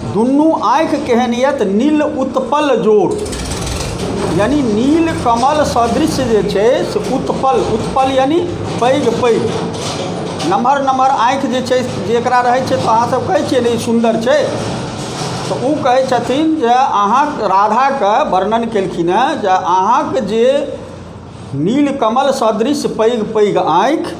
दुनू आँखि केहन यत नील उत्पल जोर यानी नील कमल सदृश जे छै से उत्पल उत्पल यानी पैघ पैघ नमहर नमहर आँखि जे छै जकरा रहै छै तऽ अहाँसभ कहै छियै ने ई सुन्दर छै तऽ ओ कहै छथिन जे अहाँ राधाके वर्णन केलखिन हेँ जे अहाँके जे नील कमल सदृश पैघ पैघ आँखि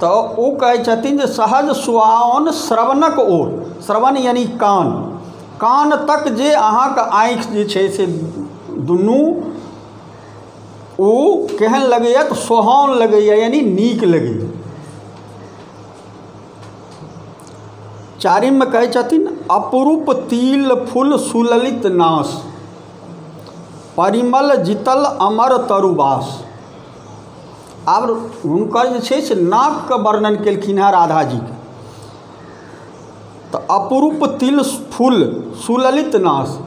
तऽ ओ कहै छथिन जे सहज सुआओन श्रवणक ओर श्रवण यानि कान कान तक जे अहाँके आँखि जे छै से दुनू ओ केहन लगैए तऽ सोहाओन लगैए यानि नीक लगैए चारिममे कहै छथिन अपरूप तिल फूल सुललित नाश परिमल जितल अमर तरुबास आब हुनकर जे छै से नाकके वर्णन केलखिन हेँ राधा जी तऽ अपरूप तिल फूल सुललित नास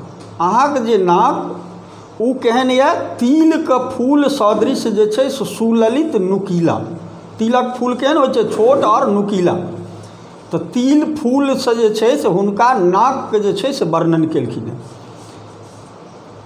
अहाँके जे नाक ओ केहन यए तिलके फूल सदृश जे छै से सुललित नुकीला तिलक फूल केहन होइत छै छोट आओर नुकीला तऽ तिल फूलसँ जे छै से हुनका नाकके जे छै से वर्णन केलखिन हेँ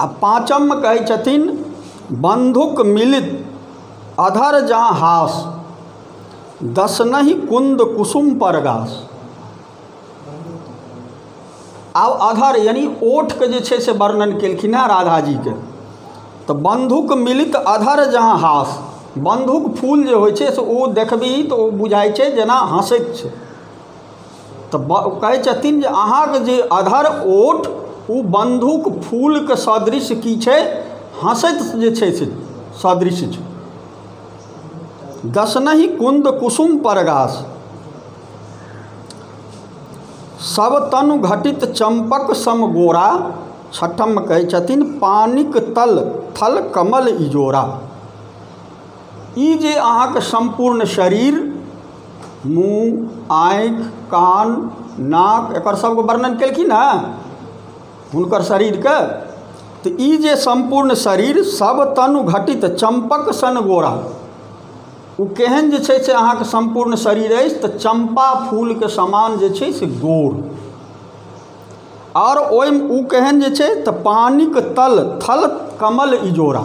आ पाँचममे कहै छथिन बन्धुक मिलित अधर जँ हास दसनहि कुन्द कुसुम पर गास आब अधर यानि ओठके जे छै से वर्णन केलखिन हेँ राधाजीके तऽ बन्धुक मिलित अधर जहाँ हास बन्धुक फूल जे होइ छै से ओ देखबिही तऽ ओ बुझाइ छै जेना हँसैत छै तऽ ब कहै छथिन जे अहाँके जे अधर ओठ ओ बन्धुक फूलके सदृश की छै हँसैत जे छै से सदृश छै दसनहि कुन्द कुसुम परगास सब तनु घटित चम्पक सम गोरा छठम कहै छथिन पानिक तल थल कमल इजोरा ई जे अहाँके सम्पूर्ण शरीर मुँह आँखि कान नाक एकर सभके वर्णन केलखिन हेँ हुनकर शरीरके तऽ ई जे सम्पूर्ण शरीर सभ तनु घटित चम्पक सन गोरा ओ केहन जे छै से अहाँके सम्पूर्ण शरीर अछि तऽ चम्पा फूलके समान जे छै से गोर आओर ओहिमे ओ केहन जे छै तऽ पानिक तल थल कमल इजोरा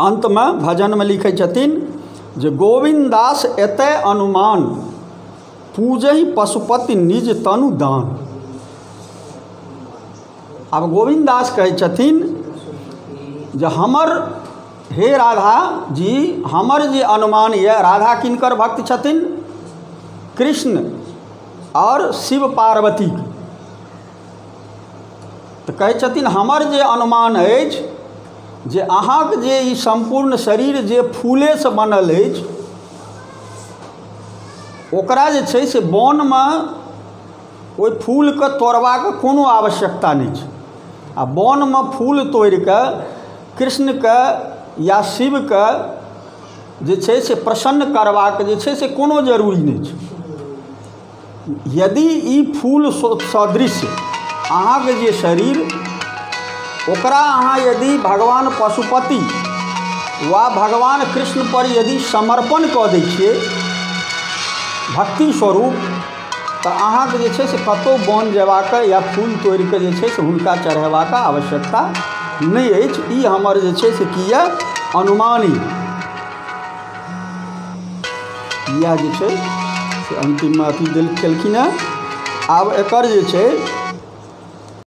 अन्तमे भजनमे लिखै छथिन जे गोविन्द दास एतय अनुमान पूजहि पशुपति निज तनु दान आब गोविन्द दास कहै छथिन जे हमर हे राधा जी हमर जे अनुमान यए राधा किनकर भक्त छथिन कृष्ण आओर शिव पार्वती तऽ कहै छथिन हमर जे अनुमान अछि जे अहाँक जे ई सम्पूर्ण शरीर जे फूलेसँ बनल अछि ओकरा जे छै से वनमे ओहि फूलके तोड़बाक कोनो आवश्यकता नहि छै आ वनमे फूल तोड़ि कऽ कृष्णके या शिवके जे छै से प्रसन्न करबाक जे छै से कोनो जरूरी नहि छै यदि ई फूल सदृश अहाँके जे शरीर ओकरा अहाँ यदि भगवान पशुपति वा भगवान कृष्णपर यदि समर्पण कऽ दै छिए भक्ति स्वरूप तऽ अहाँके जे छै से कतहु बन जेबाके या फूल तोड़िके जे छै से हुनका चढ़ेबाके आवश्यकता नहि अछि ई हमर जे छै से कि अइ अनुमान अइ इएह जे छै से अन्तिममे अथी देल केलखिन हेँ आब एकर जे छै